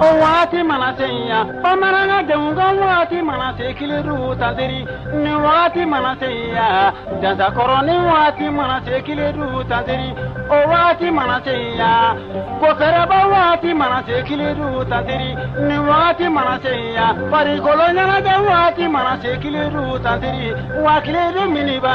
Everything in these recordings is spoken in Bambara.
O waati mana se yan bamanan denw ka waati mana se Kiledu tanteri ni waati mana se yan jazakɔrɔnin waati mana se Kiledu tanteri o waati mana se yan ko fɛrɛba waati mana se Kiledu tanteri ni waati mana se yan farikoloɲɛnajɛ waati mana se Kiledu tanteri wa Kiledu min b'a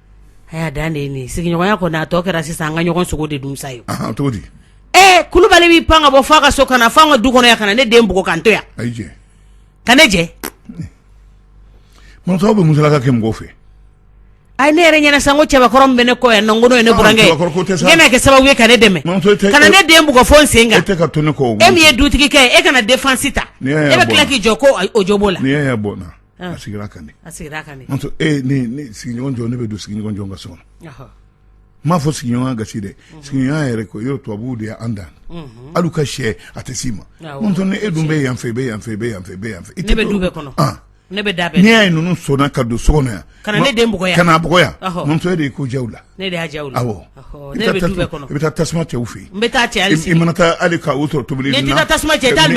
A y'a dan de sigiɲɔgɔnya kɔnɔ a tɔ kɛra sisan an ka ɲɔgɔn sogo de dun sa ye ee kulubali b'i pan ka bɔ fo a ka so ka na fo n ka du kɔnɔ yan ka na ne den bugɔ k'an to yan ka ne jɛ muso bɛ musalaka kɛ mɔgɔw fɛ a ye ne yɛrɛ ɲɛna sanko cɛbakɔrɔ bɛ ne kɔ yan nɔnkolon ye nekɛ kɛ sababu ye ka ne dɛmɛ ka na ne den bugɔ fo n sen kan e min ye dutigikɛ e kana defansi ta e bɛ tila k'i jɔ ko o jo b'o la a sigira a kan de a sigira kan e ni sigiɲɔgɔn jɔn ne bɛ don sigiɲɔgɔn jɔn ka so kɔnɔ n m'a fɔ sigiɲɔgɔnya gasi dɛ mhm. sigiɲɔgɔnya yɛrɛ ko yɔrɔ tubabuw de y'an dan mhm. hali ka se a tɛ s'i ma muso ni e dun bɛ yan fɛ bɛɛ ne bɛ du bɛɛ kɔnɔ ah. ne bɛ da bɛɛ n'i y'a ye ninnu sɔnna ka don so kɔnɔ yan ka na ne den bugɔ yan ka na bugɔ yan muso e de ye ko jɛw la Ne i bɛ tasuma cɛ fɛ n bɛ taa cɛ i mana taa hali ka sɔrɔ tobili tasuma cɛ ka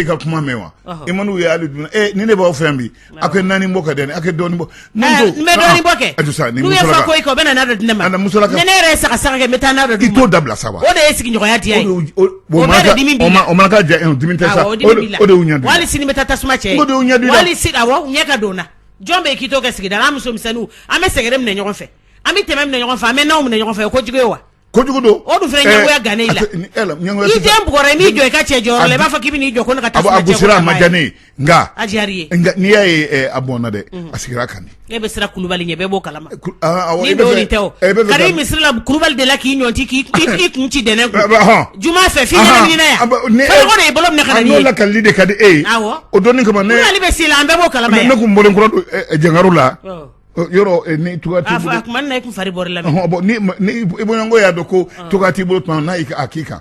ka kuma mɛn wa i man ye ali dun ni ne b'aw fɛn bi a kɛ naani bɔ ka dɛ a kɛ dɔnni bɔ bɛ ne yɛrɛ sa sa bɛ taa n'a di to dabila sa o de ye sigiɲɔgɔnya tiɲɛ sini bɛ taa tasuma cɛ ɲɛ ka don jɔn bɛ k'i to kɛ sigida la an muso misɛnninw an bɛ sɛgɛrɛ minɛ ɲɔgɔn fɛ an bɛ tɛmɛ minɛ ɲɔgɔn fɛ an bɛ nanw minɛ ɲɔgɔn fɛ o kojugu ye wa kojugu don o dun fana ɲɛgoya gannen i la i den bugɔra i m'i jɔ i ka cɛ jɔyɔrɔ la i b'a fɔ k'i bɛ n'i jɔ ko ne ka taa a gosira a ma diya ne ye nka a diyar'i ye nka n'i y'a ye a bɔnna dɛ a sigira a kan de e bɛ siran Kulubali ɲɛ bɛɛ b'o kalama Misira kulubali de la k'i ɲɔnti k'i kun ci dɛ ne juma fɛ fi bolo kali de ka di e ye o don kama ne bɛ siran an bɛɛ b'o kalama ne kun bɔlen kura don jankaro la yɔrɔ ni tu fari la i bɔɲɔgɔn y'a dɔn ko tu t'i bolo tuma n'a k'i kan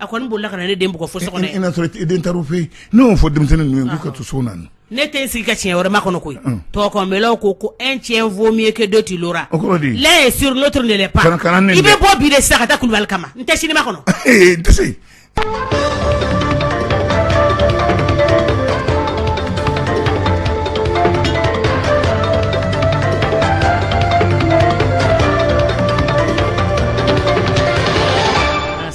A ko n boli ka ne den bɔ fo so den taarari fɛ yen n'o fɔ denmisɛnnin n ka to so na ne tɛ sigi ka tiɲɛ wɛrɛma kɔnɔ koyi tɔgɔkɔ ko ko e cɛ fɔ min ye kɛ dɔ' la la ye siri dɔrɔn de i bɛ bɔ bi sa ka da kulubali kama n tɛ siniba kɔnɔ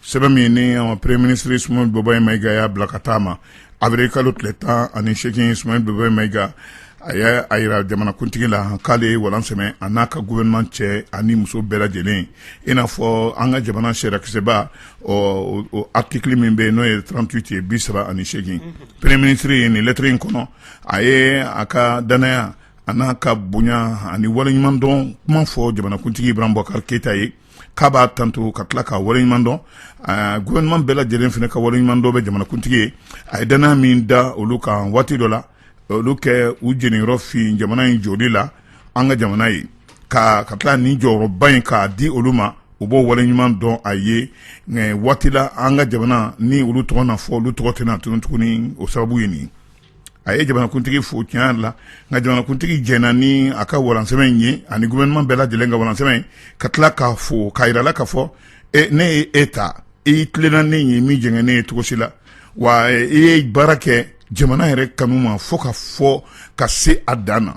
sɛbɛn min ni premier ministre Soumeylou Boubèye Maïga y'a bila ka taa a ma avril kalo tile tan ani seegin Soumeylou Boubèye Maïga a y'a jira jamanakuntigi la k'ale ye walan sɛmɛ a n'a ka gouvernement cɛ ani muso bɛɛ lajɛlen i n'a fɔ an ka jamana sariyakisɛba o article min bɛ yen n'o ye trente-huit ye bi saba ani seegin premier ministre ye nin lɛtiri in kɔnɔ a ye a ka dannaya a n'a ka bonya ani waleɲumandɔn kuma fɔ jamanakuntigi Ibrahim Boubacar Keïta ye k'a b'a tanto ka tila ka wale ɲuman dɔn gouvernement bɛɛ lajɛlen fana ka wale ɲuman dɔn bɛ jamanakuntigi ye a ye dannaya min da olu kan waati dɔ la olu kɛ u jeniyɔrɔ fin jamana in jɔli la an ka jamana ye ka ka tila nin jɔyɔrɔba in k'a di olu ma u b'o wale ɲuman dɔn a ye waati la an ka jamana ni olu tɔgɔ na fɔ olu tɔgɔ tɛna tunun tuguni o sababu ye nin a ye jamanakuntigi fo tiɲɛ la nka jamanakuntigi jɛna ni a ka walansɛmɛ ye ani gouvernement bɛɛ lajɛlen ka walansɛmɛ ka tila k'a fo k'a jirala k'a fɔ ne ye e ta i tilenna ne ye i ma jɛngɛ ne ye cogo si la wa i ye baara kɛ jamana yɛrɛ kanu ma fo ka fɔ ka se a dan na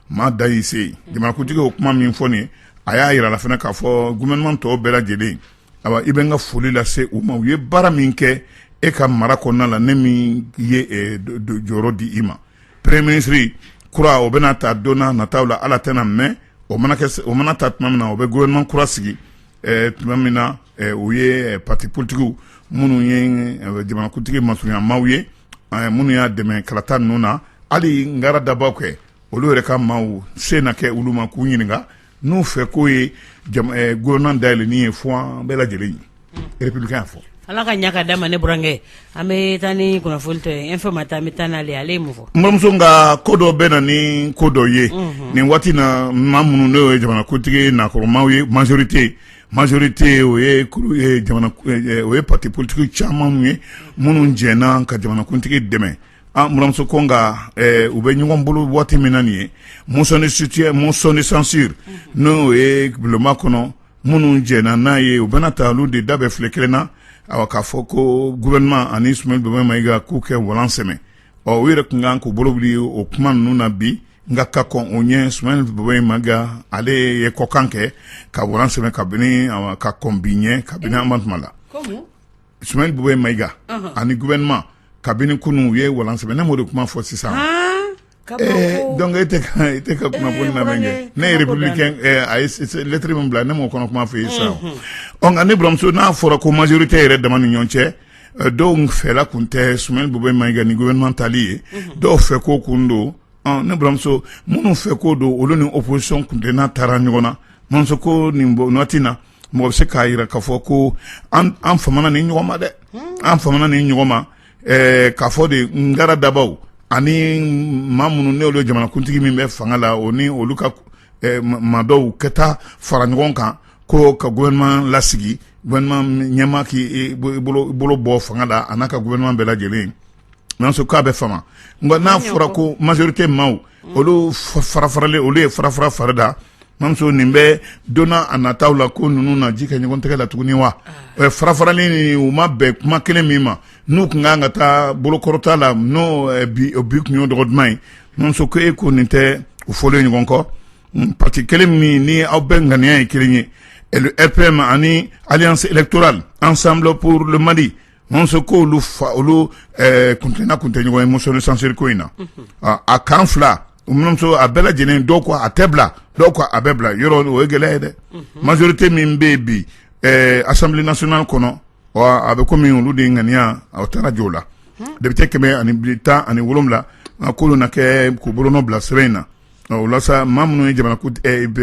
maa da y'i se jamanakuntigi o kuma min fɔ nin a y'a jirala fana k'a fɔ gouvernement tɔw bɛɛ lajɛlen awa i bɛ n ka foli lase u ma u ye baara min kɛ e ka mara kɔnɔna la ne min ye eh, jɔyɔrɔ di i ma premier ministre kura o bɛna ta don na nataw la ala tɛna mɛɛn o mana kɛ o mana ta tuma min na o bɛ gouvernement kura sigi eh, tuma min na eh, o ye parti politigiw minnu ye jamanakuntigi masurunyamaw ye minnu y'a dɛmɛ kalata ninnu na hali ngara dabaw kɛ olu yɛrɛ ka maaw se na kɛ olu ma k'u ɲininka n'u fɛ k'o ye gouvernement dayɛlɛnni ye fo an bɛɛ lajɛlen ye Républicain y'a fɔ ala ka ɲa ka d'a ma ne burankɛ an bɛ taa ni kunnafoni tɔ ye Info-Matin an bɛ taa n'ale ale ye mun fɔ n buramuso nka ko dɔ bɛ na ni ko dɔ ye nin waati na maa minnu n'o ye jamanakuntigi nakɔrɔmaw ye majorité majorité o ye o ye parti politigiw caman ye minnu jɛnna ka jamanakuntigi dɛmɛ N buramuso ko nka u bɛ ɲɔgɔn bolo waati min na nin ye motion de censure n'o ye bulonba kɔnɔ minnu jɛnna n'a ye o bɛna ta olu de da bɛ file kelen na k'a fɔ ko gouvernement ani Soumeylou Boubèye Maïga k'u kɛ walan sɛmɛ ɔ u yɛrɛ tun kan k'u bolo wuli o kuma ninnu na bi nka ka kɔn o ɲɛ Soumeylou Boubèye Maïga ale ye kɔkan kɛ ka walan sɛmɛ kabini ka kɔn bi ɲɛ kabini an ma tuma la Soumeylou Boubèye Maïga ani gouvernement kabini kunun u ye walan sɛmɛ ne m'o de kuma fɔ sisan donc e tɛ ka kunnafoni lamɛn kɛ ne ye Républicain a ye lettre min bila ne m'o kɔnɔ kuma f'i ye sisan ɔ nka ne buramuso n'a fɔra ko majorité yɛrɛ dama ni ɲɔgɔn cɛ dɔw fɛla kun tɛ Soumeylou Boubèye Maïga ni gouvernement tali ye dɔw fɛ ko kun don ɔ ne buramuso minnu fɛ ko don olu ni opposition kun tɛ n'a taara ɲɔgɔn na ko nin waati in na mɔgɔ bɛ se k'a yira k'a fɔ ko an famana ni ɲɔgɔn ma dɛ an famana ni ɲɔgɔn ma k'a fɔ de ngara dabaw ani maa minnu ne olu jamanakuntigi min bɛ fanga la o ni olu ka maa dɔw ka taa fara ɲɔgɔn kan ko ka gouvernement lasigi gouvernement ɲɛmaa k'i bolo bɔ fanga la a n'a ka gouvernement bɛɛ lajɛlen Nanso k'a bɛ fama nka n'a fɔra ko majorité maaw olu farafaralen olu ye farafara fari da ma nin bɛ donna a nata la ko ninnu na ji kɛ ɲɔgɔn tɛgɛ la tuguni wa farafaralen u ma bɛn kuma kelen min ma n'u kun ka kan ka taa bolokɔrɔta la n'o bi kun y'o dɔgɔ duman ye nanso ko e ko nin tɛ u fɔ ɲɔgɔn kɔ pati kelen min ni aw bɛɛ ŋaniya ye kelen ye RPM ani alliance électorale ensemble pour le Mali Mamuso ko olu fa olu kuntenna kun tɛ ɲɔgɔn ye motion de censure ko in na a kan fila mamuso a bɛɛ lajɛlen dɔw ko a tɛ bila dɔw ko a bɛ bila yɔrɔ o ye gɛlɛya ye dɛ majorité min bɛ bi assemblée nationale kɔnɔ a bɛ kɔmi olu de ŋaniya a taara jɔ o la député kɛmɛ ani tan ani wolonwula k'olu na kɛ k'u bolonɔ bila sɛbɛn in na o la sa maa minnu ye jamana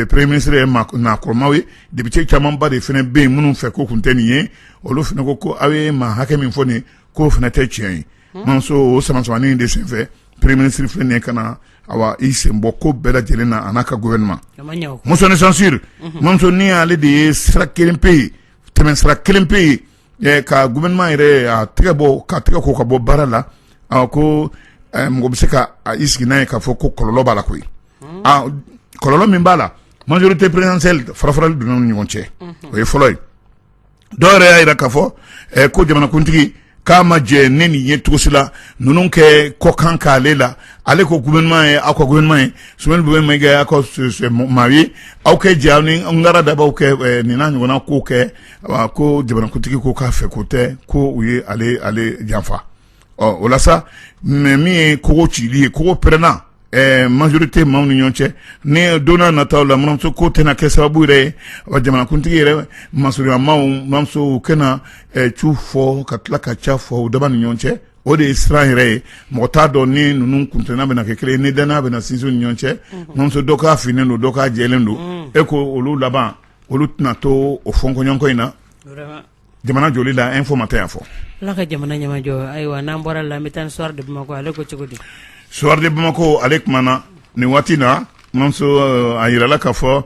premier ministre ye nakɔrɔmaw ye député camanba de fana bɛ yen minnu fɛ ko kun tɛ nin ye olu fana ko ko aw ye maa hakɛ min fɔ nin k'o fana tɛ tiɲɛ ye mamuso o samasamani de senfɛ premier ministre filɛ nin ka na awa i sen bɔ ko bɛɛ lajɛlen na a n'a ka gouvernement motion de censure mamuso nin y'ale de ye sira kelen pe ye tɛmɛ sira kelen pe ye ka gouvernement yɛrɛ a tɛgɛ bɔ ka tɛgɛ ko ka bɔ baara la ko mɔgɔ bɛ se ka i sigi n'a ye k'a fɔ ko kɔlɔlɔ b'a la koyi kɔlɔlɔ min b'a la majorité présidentielle farafarali donna ni ɲɔgɔn cɛ o ye fɔlɔ ye dɔw yɛrɛ y'a yira k'a fɔ ko jamanakuntigi k'a ma jɛ ne nin ye cogo si la ninnu kɛ kɔkan ka ale la ale ko gouvernement ye aw ka gouvernement ye S B Maïga aw ka maa ye aw kɛ jɛ ni ngara dabaw kɛ nin ɲɔgɔnna ko kɛ a ko jamanakuntigi ko k'a fɛ ko tɛ ko u ye ale janfa ɔ o la sa mais min ye kogo cili ye kogo pɛrɛnna majorité maaw ni ɲɔgɔn cɛ ni donna nata la mamuso ko tɛna kɛ sababu yɛrɛ ye wa jamanakuntigi yɛrɛ masurunyamaw mamuso kɛna tu fɔ ka tila ka ca fɔ u da ni ɲɔgɔn cɛ o de ye siran yɛrɛ ye mɔgɔ t'a dɔn ni ninnu kuntenna bɛna kɛ kelen ni dannaya bɛna sinsin ni ɲɔgɔn cɛ mamuso dɔ k'a finnen don dɔ k'a jɛlen don e ko olu laban olu tɛna to o fɔɲɔgɔnkɔ in na jamana joli la Info Matin y'a fɔ ala ka jamana ɲɛmajɔ ayiwa n'an bɔra o la an bɛ taa Soir de Bamako ale ko cogo di Soir de Bamako ale kumana nin waati na mamuso a yirala k'a fɔ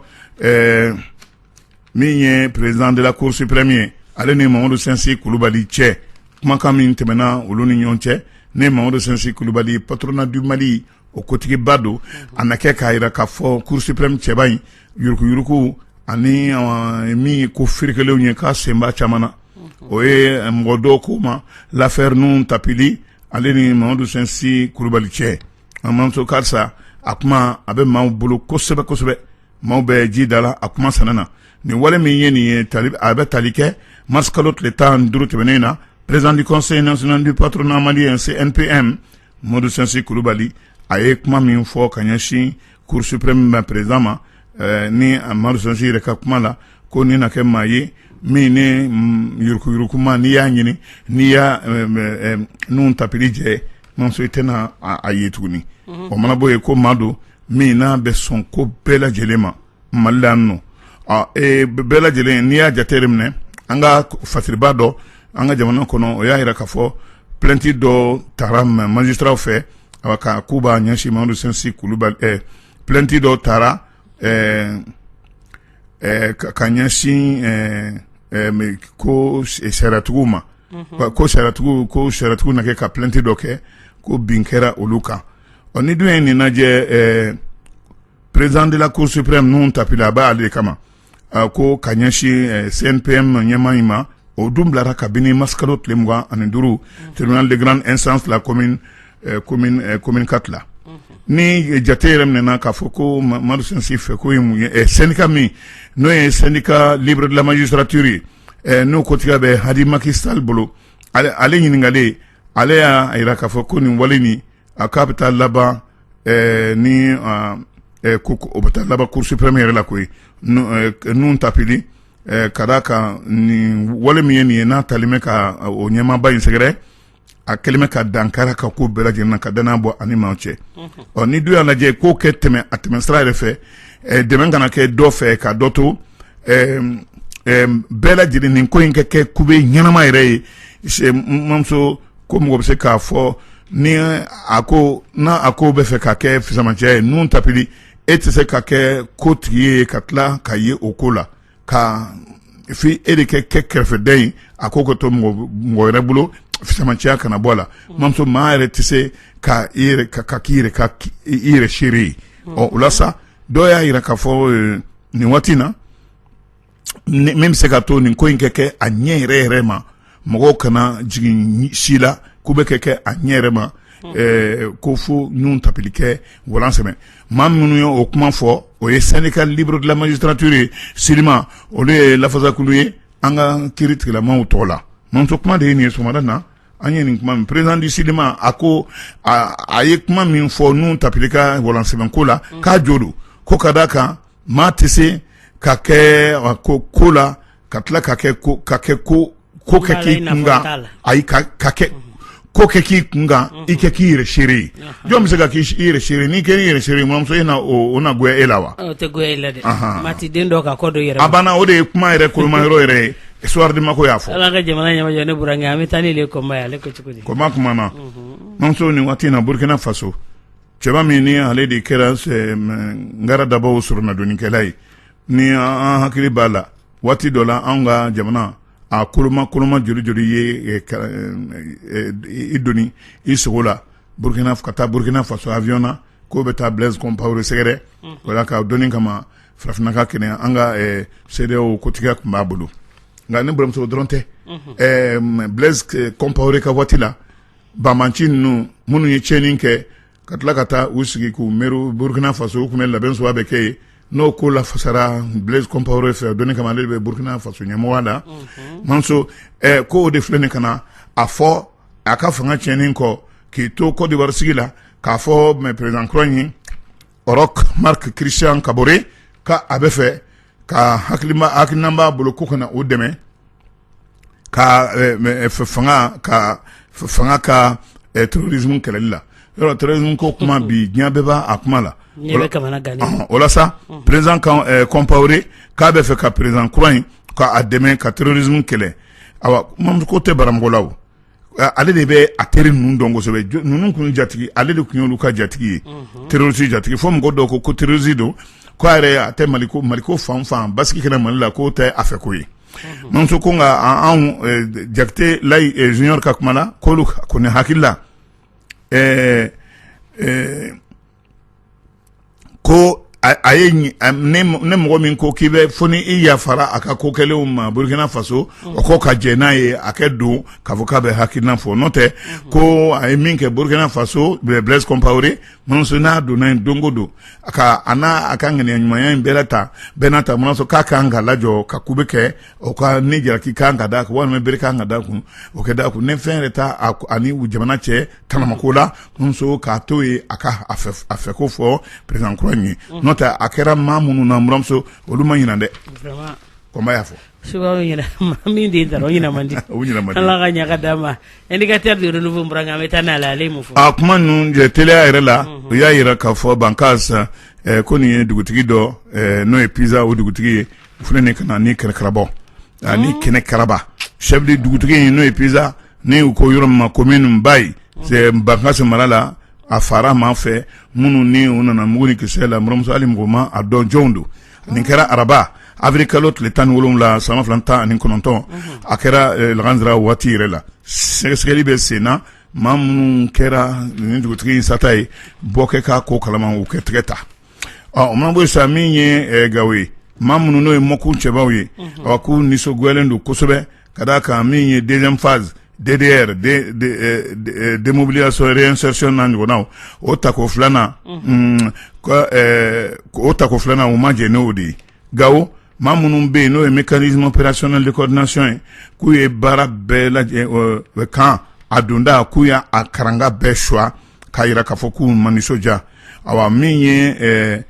min ye président de la cour suprême ye ale ni mamadu sensi kulubali cɛ kumakan min tɛmɛna olu ni ɲɔgɔn cɛ ni mamadu sensi kulubali patronat du Mali o kotigiba don a na kɛ k'a yira k'a fɔ cour suprême cɛba in yuruguyurugu ani min ye ko ferekelenw ye k'a sen b'a caman na o ye mɔgɔ dɔw ko ma l'affaire nun tapili ale ni mamadu sensi kulubali cɛ a mamuso karisa a kuma a bɛ maaw bolo kosɛbɛ kosɛbɛ maaw bɛ ji da la a kuma san na nin wale min ye nin ye a bɛ tali kɛ mars kalo tile tan duuru tɛmɛnen in na président du conseil national du patronat malien CNPM Mamadu sensi kulubali a ye kuma min fɔ ka ɲɛsin cour suprême ma président ma ni mamadu sensi yɛrɛ ka kuma la ko ni na kɛ maa ye min ni yuruguyuruguma n'i y'a ɲini n'i ye nun tapili jɛ mamuso i tɛna a ye tuguni o mana bɔ yen ko maa don min n'a bɛ sɔn ko bɛɛ lajɛlen ma mali la yan nɔ ɔ ee b- bɛɛ lajɛlen n'i y'a jate de minɛ an ka k- fasiriba dɔ an ka jamana kɔnɔ o y'a yira k'a fɔ plainte dɔ tara ma- magistrats fɛ awa ka k'u b'a ɲɛsin mamadu sensi kulubali ɛɛ plainte dɔ tara ɛɛ ɛɛ ka ka ɲɛsin ɛɛ ɛɛ me- ko s- sariatigiw ma Wa ko sariatigiw ko sariatigiw na kɛ ka plainte dɔ kɛ ko bin kɛra olu kan ɔ ni dun ye nin lajɛ ɛɛ Président de la cour suprême nun tapili a b'a ale kama a ko ka ɲɛsin CNPM ɲɛmaa in ma o dun bilara kabini mars kalo tile mugan ani duuru tribunal de grande instance de la commune quatre la ni jate yɛrɛ minɛna k'a fɔ ko mamadu sensi fɛ ko syndicat min n'o ye syndicat libre de la magistrature ye n'o kotigiya bɛ hadi maki sall bolo ale ɲininkalen ale y'a yira k'a fɔ ko nin wale a k'a bɛ taa laban ɛɛ ni ɛɛ ko o bɛ taa laban cour suprême yɛrɛ la koyi nun tapili ɛɛ ka d'a kan nin wale min ye nin ye n'a talen bɛ ka o ɲɛmaaba in sɛgɛrɛ a kɛlen bɛ ka dankari a ka ko bɛɛ lajɛlen na ka dannaya bɔ a ni maaw cɛ ɔ ni dun y'a lajɛ k'o kɛ tɛmɛ a tɛmɛ sira yɛrɛ fɛ ɛɛ dɛmɛ kana kɛ dɔ fɛ ka dɔ to ɛɛ ɛɛ bɛɛ lajɛlen nin ko in ka kɛ kube ɲɛnama yɛrɛ ye mamuso ko mɔgɔ bɛ se k'a fɔ ni a ko n' a ko bɛ fɛ ka kɛ fisamacɛya ye nun tapili e tɛ se ka kɛ ko tigi ye ka tila ka ye o ko la ka f e de kɛ kɛ kɛrɛfɛden ye a ko ka to mɔgɔ wɛrɛ bolo fisamacɛya kana bɔ a la mamuso maa yɛrɛ tɛ se ka ka k'i yɛrɛ i yɛrɛ seere ye ɔ o la sa dɔw y'a yira k'a fɔ nin waati in na min bɛ se ka to nin ko in kɛ kɛ a ɲɛ yɛrɛ yɛrɛ ma mɔgɔw kana jigin si la k'u bɛ kɛ kɛ a ɲɛ yɛrɛ ma ko fo Nuhun Tapili k'a walan sɛmɛ maa minnu ye o kuma fɔ o ye syndicat libre de la magistrature ye SYLIMA olu ye lafasakulu ye an ka kiri tigɛlamaw tɔgɔ la mamuso kuma de ye nin ye sɔgɔmada na an ye nin kuma mɛn président du SYLIMA a ko a ye kuma min fɔ Nuhun Tapili ka walan sɛmɛko la k'a jo don ko ka d' a kan Maa tɛ se ka kɛ ko ko la ka tila ka kɛ ko ka kɛ ko ko kɛ k'i kun ayi ka ka kɛ ko kɛ k'i kunkan i kɛ k'i yɛrɛ seere ye jɔn bɛ se ka k' i yɛrɛ seere n'i kɛra i yɛrɛ seere mamuso in na o na goya e la wa a banna o de ye kuma yɛrɛ koloma yɔrɔ yɛrɛ ye Soir de Bamako y'a fɔ ala ka jamana ɲa ne burankɛ an bɛ taa ni Le Combat ye ale ko cogo di Combat kumana mamuso nin waati in na burukina faso cɛba min ni ale de kɛra ngara dabaw sɔrɔnadonnikɛla ye ni an hakili b'a la waati dɔ la an ka jamana a koloma koloma joli joli ye i doni i sogo la burukina ka taa burukina faso avion na k'o bɛ taa Blaise Compaoré sɛgɛrɛ wala ka dɔnni kama farafinna ka kɛnɛ an ka CEDEAO kotigiya tun b'a bolo nka ni baramuso dɔrɔn tɛ Blaise Compaoré ka waati la banbanci ninnu minnu ye tiɲɛni kɛ ka tila ka taa u sigi k'u miiri burukina faso u tun bɛ labɛn suguya bɛɛ kɛ yen n'o ko lafasara Blaise Compaoré fɛ dɔnni kama ale bɛ burukina faso ɲɛmɔgɔya la mamuso ko o de filɛ nin ka na a fɔ a ka fanga tiɲɛnin kɔ k'i to Côte d'Ivoire sigi la k'a fɔ mɛ président kura in Roch Marc Christian Kaboré k' a bɛ fɛ ka hakili hakilikilnan b'a bolo ko kana na o dɛmɛ ka fanga ka fanga ka tororiz kɛlɛli la yɔrɔ tz ko kuma bi diɲɛ bɛ b' a kuma la walasa perez kɔnpri k'a bɛ fɛ ka perezan kura in k'a dɛmɛ ka torz kɛlɛ ko tɛ baramɔgɔla Ale de bɛ a teri ninnu dɔn kosɛbɛ ninnu tun jatigi ale de tun ye olu ka jatigi ye terroriste jatigi fo mɔgɔ dɔw ko ko terroriste don k'a yɛrɛ a tɛ mali maliko fan fɛ basigi ka na mali la k'o tɛ a fɛ ko ye mamuso ko nka anw Jakite Layi Junior ka kuma la k'olu kɔni hakili la ɛɛ ko a ye ne mɔgɔ min ko k'i bɛ fo ni i yafara a ka ko kɛlenw ma burukina faso o ko ka jɛn n'a ye a kɛ don ka fɔ k'a bɛ hakilina fɔ n'o tɛ ko a ye min kɛ burukina faso Blaise Compaoré mamuso n'a donna yen don o don a a n'a a ka ŋaniya ɲumanya in bɛɛ ta bɛɛ n'a ta sɔrɔ k'a ka kan ka lajɔ ka ku bɛ kɛ o ka ni jalaki kan ka da a kun walima bere kan ka da a kun o ka da a kun ne fɛn yɛrɛ taa ani jamana cɛ tanamako la buranmuso k'a to ye a ka a fɛ ko fɔ président kura in ye n'o tɛ a kɛra maa minnu na buranmuso olu ma ɲina dɛ Combat y'a fɔ su min de dara o ɲina ala ka ɲaga d'a ma Indicateur an bɛ taa n'a la ale fɔ a kuma ninnu jɛ teliya yɛrɛ la u y'a jira k'a fɔ Bankasi ko nin ye dugutigi dɔ n'o ye Pisa o dugutigi ye filɛ nin ka na ni kɛnɛkarabɔ ani ni kɛnɛkaraba chef de dugutigi in n'o ye Pisa n'u ko yɔrɔ min ma commune Bayi Bankasi mara la a fara maa fɛ minnu ni u nana mugu ni kisɛ la buranmuso hali mɔgɔ ma a dɔn jɔnw don nin kɛra araba awirili kalo tile tan ni wolonwula san ba fila tan ani kɔnɔntɔn a kɛra lagansara waati yɛrɛ la sɛgɛsɛgɛli bɛ sen na maa minnu kɛra nin dugutigi in sata ye bɔ kɛ k'a ko kala u kɛ tɛgɛ ta ɔ ma bɛ sa min ye gawo ye maa minnu n'o ye mɔk cɛbabaww ye ɔ k'u nisɔngolen don kosɛbɛ ka d' a kan min ye denfa de yɛrɛ denmusobiliya sɔrɔ sɔy na ɲɔgɔnna o tako filanan o tako filanan u ma jɛ n'o de ye gawo maa minnu bɛ yen n'o ye bɛ kari ɲumanpererasononali ladilasiyɔn ye k'u ye baara bɛɛ kan a donda k'u y' a karan bɛɛ suwa k'a jira k'a fɔ k'u ma nisɔndiya ayiwa min ye ɛɛ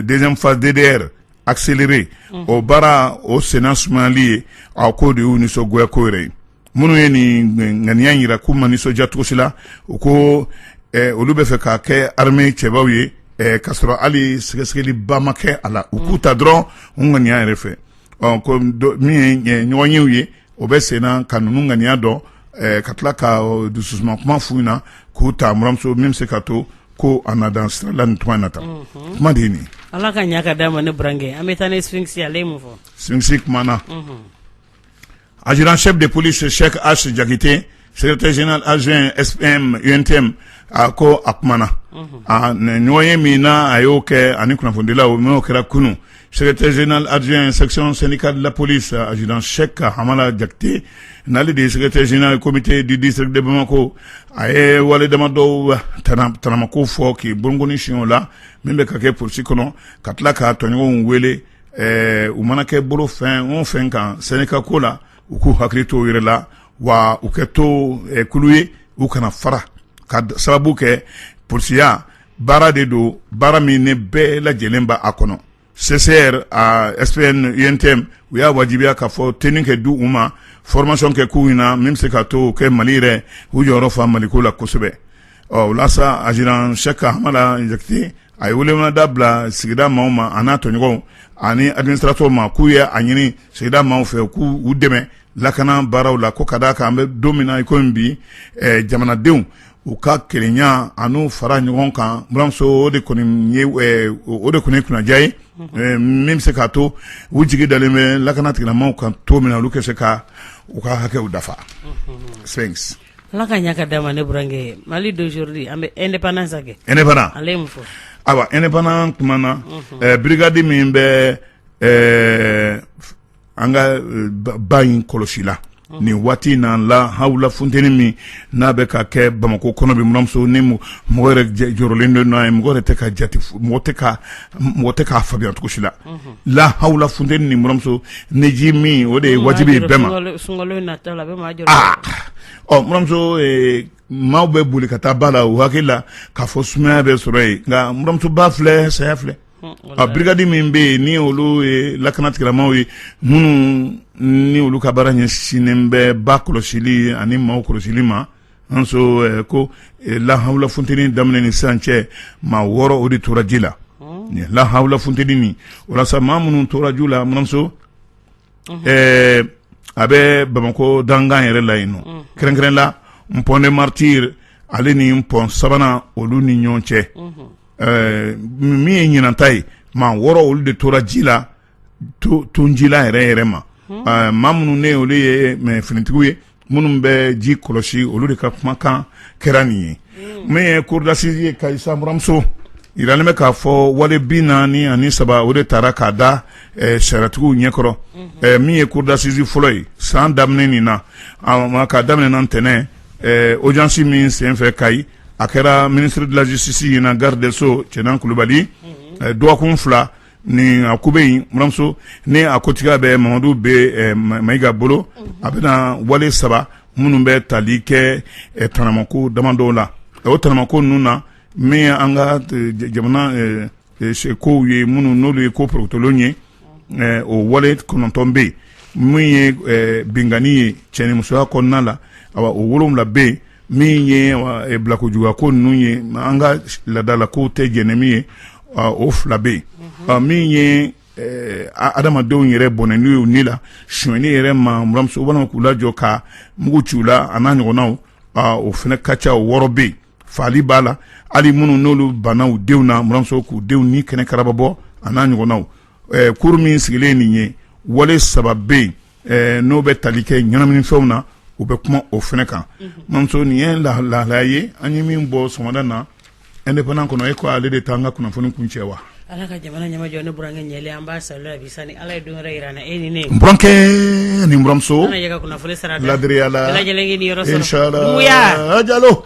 deuxième phase DDR accéléré unhun, o baara o senna sumayali ye a k'o de y'u nisɔngoyako yɛrɛ ye minnu ye nin ŋaniya in jira k'u ma nisɔndiya cogo si la u ko ɛɛ olu bɛ fɛ ka kɛ armée cɛbaw ye ɛɛ k'a sɔrɔ hali sɛgɛsɛgɛliba ma kɛ a la u k'u ta dɔrɔn u ŋaniya yɛrɛ fɛ ɔ ko min ye ɲɔgɔnyew ye o bɛ sen na ka ninnu ŋaniya dɔn ka tila ka dususuma kuma f'u ɲɛna k'u ta buranmuso min bɛ se ka to ko a na dansira la nin tuma in na tan kuma de nin ala ka ɲaga d'a ma ne burankɛ an bɛ taa ne Sphinx y'a fɔ Sphinx kumana adjudant chef de police Cheick H jakite secrétaire général adjoint SPM UNTM a ko a kumana a na ɲɔgɔnye min na a y'o kɛ ani kunnafonidilaw n'o kɛra kunu secrétaire général adjoint section syndicale de la police adjudant Cheick Hamala Jakite n'ale de ye secrétaire général comité du district de Bamako a ye wale dama dɔw tana- tanamako fɔ k'i bolonkoni sin o la min bɛ ka kɛ polisi kɔnɔ ka tila k'a tɔɲɔgɔnw wele ɛɛ u mana kɛ bolo fɛn o fɛn kan syndicat ko la u k'u hakili to yɛrɛ la wa u kɛ to kulu ye u kana fara ka sababu kɛ polisiya baara de don baara min ni bɛɛ lajɛlen b' a kɔnɔ CCR SPN UNTM u y'a wajibiya k'a fɔ tenue kɛ di u ma formation kɛ k'u ɲɛna min bɛ se ka to kɛ mali yɛrɛ u jɔyɔrɔ fa maliko la kosɛbɛ Ɔ o la sa adjudant Cheikh Hamala Jakite a ye welemada bila sigida maaw ma a n'a tɔɲɔgɔnw ani administrateur ma k'u ye a ɲini sigida maaw fɛ k'u u dɛmɛ lakana baaraw la ko ka d'a kan an bɛ don min na i komi bi jamanadenw u ka kelenya ani fara ɲɔgɔn kan buranmuso o de kɔni ye kunnaja ye min bɛ se k'a to u jigi dalen bɛ lakana tigilamaaw kan to min na olu ka se ka u ka hakɛw dafa sɛ Ala ka ɲa ka d'a ma ne burankɛ. Mali d'aujourd'hui an bɛ independance kɛ. Independant Ale ye mun fɔ? Ayiwa independant kumana ɛɛ brigade min bɛ ɛɛ an ka ba in kɔlɔsi la nin waati in na lahawula funteni min n'a bɛ ka kɛ Bamakɔ kɔnɔ bi, n buranmuso ni mɔgɔ yɛrɛ jɔrɔlen don n'a ye, mɔgɔ yɛrɛ tɛ ka jate mɔgɔ tɛ ka mɔgɔ tɛ k'a faamuya cogo si la lahawula funteni n buranmuso ne ji min o de ye wajibi ye bɛɛ ma buranmuso maaw bɛ boli ka taa ba la u hakili la k'a fɔ sumaya bɛ sɔrɔ yen nka buranmuso ba filɛ saya filɛ brigade min bɛ yen ni olu ye lakana tigilamaaw ye minnu ni olu ka baara ɲɛsinnen bɛ ba kɔlɔsili ani maaw kɔlɔsili ma An ko lahaula funteni daminɛ ni sisan cɛ maa wɔɔrɔ olu de tora ji la nin lahaula funteni nin o la sa maa minnu tora ji la buranmuso ɛɛ a bɛ bamakɔ dankan yɛrɛ la yen nɔ kɛrɛnkɛrɛn la pont des martyrs ale ni pɔn sabanan olu ni ɲɔgɔn cɛ ɛɛ min ye ɲinanta ye maa wɔɔrɔ olu de tora ji la to to ji la yɛrɛ yɛrɛ ma ɛɛ maa minnu ni olu ye ɛɛ finitigiw ye minnu bɛ ji kɔlɔsi olu de ka kumakan kɛra nin ye min ye cour d'assises ye Kayi sa buranmuso yiralen bɛ k'a fɔ wale bi naani ani saba o de taara k'a da ɛɛ sariyatigiw ɲɛkɔrɔ ɛɛ min ye cour d'assises fɔlɔ ye san daminɛ nin na k'a daminɛna ntɛnɛn ɛɛ audience min senfɛ Kayi a kɛra ministre de la justice ɲɛna garde des sceaux Cɛna Kulubali dɔgɔkun fila Nin a ko bɛ yen buranmuso ni a kotigiya bɛ Mamadu Be Mayiga bolo a bɛna wale saba minnu bɛ tali kɛ tanamako damadɔw la o tanamako ninnu na min ye an ka jamana kow ye minnu n'olu ye ko porotolon ye o wale kɔnɔntɔn bɛ yen min ye binkanni ye cɛnimusoya kɔnɔna la awa o wolonwula bɛ yen min ye bilakojuguya ko ninnu ye an ka laadalakow tɛ jɛn ni min ye o fila bɛ yen min ye adamadenw yɛrɛ bɔnɛni ye u ni la sonyali yɛrɛ ma buranmuso walima k'u lajɔ ka mugu ci u la a n'a ɲɔgɔnnaw o fana ka ca o wɔɔrɔ bɛ yen faali b'a la hali minnu n'olu banna u denw na buranmuso k'u denw ni kɛnɛ karaba bɔ a n'a ɲɔgɔnnaw cour min sigilen nin ye wale saba bɛ yen n'o bɛ tali kɛ ɲɛnaminifɛnw na u bɛ kuma o fana kan buramuso nin ye lahalaya ye an ye min bɔ sɔgɔmada na indépendant kɔnɔ e ko ale de t'an ka kunnafoni kuncɛ wa ala ka jamana ɲɛmajɔ ne burankɛ ɲɛ an b'a sa bi sani ala ye don wɛrɛ yira an na e ni burankɛ nimuso laya la yɔrɔ sa jalo